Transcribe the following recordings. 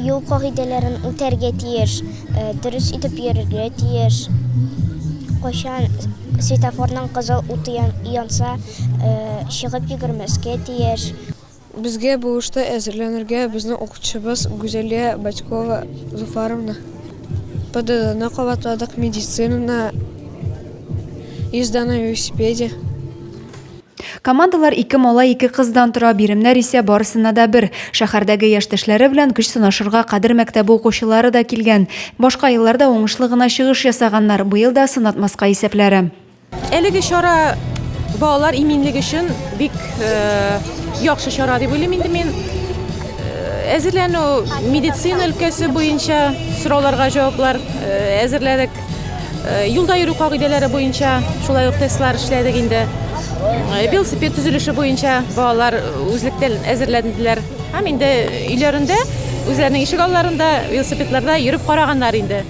Юл кагыйдәләрен үтәргә тиеш, э, дөрес итеп йөрергә тиеш. Кайчан светофорның кызыл уты янса, э, чыгып йөгермәскә тиеш. Безгә бу эштә әзерләнергә безнең укытучыбыз Гүзәлия Батькова Зуфаровна, ПДДны кабатладык, медицинаны, йөз дана велосипеде. Командалар ике малай, ике кыздан тора, биремнәр исә барысына да бер. Шәһәрдәге яшьтәшләре белән көч сынашырга Кадер мәктәбе укучылары да килгән. Башка елларда уңышлы гына чыгыш ясаганнар, быел да сынатмаска исәпләре. Әлеге чара балалар иминлеге өчен бик яхшы чара дип уйлыйм инде мин. Әзерләнү медицина өлкәсе буенча сорауларга җаваплар әзерләдек. Юлда йөрү кагыйдәләре буенча шулай ук тестлар эшләдек инде. Велосипед төзелеше буенча балалар үзлектән әзерләнделәр. Һәм инде өйләрендә, үзләренең ишек алларында велосипедларда йөреп караганнар инде.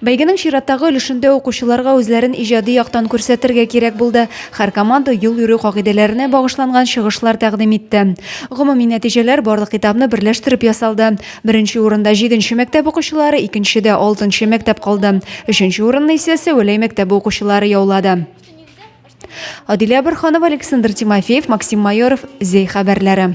Бәйгенең чираттагы өлешендә укучыларга үзләрен иҗади яктан күрсәтергә кирәк булды. Һәр команда юл йөрү кагыйдәләренә багышланган чыгышлар тәкъдим итте. Гомуми нәтиҗәләр барлык этапны берләштереп ясалды. Беренче урында җиденче мәктәп укучылары, икенчедә алтынчы мәктәп калды. Өченче урынны исә Сәвәләй мәктәбе укучылары яулады. Адилә Борханова, Александр Тимофеев, Максим Майоров, Зәй хәбәрләре.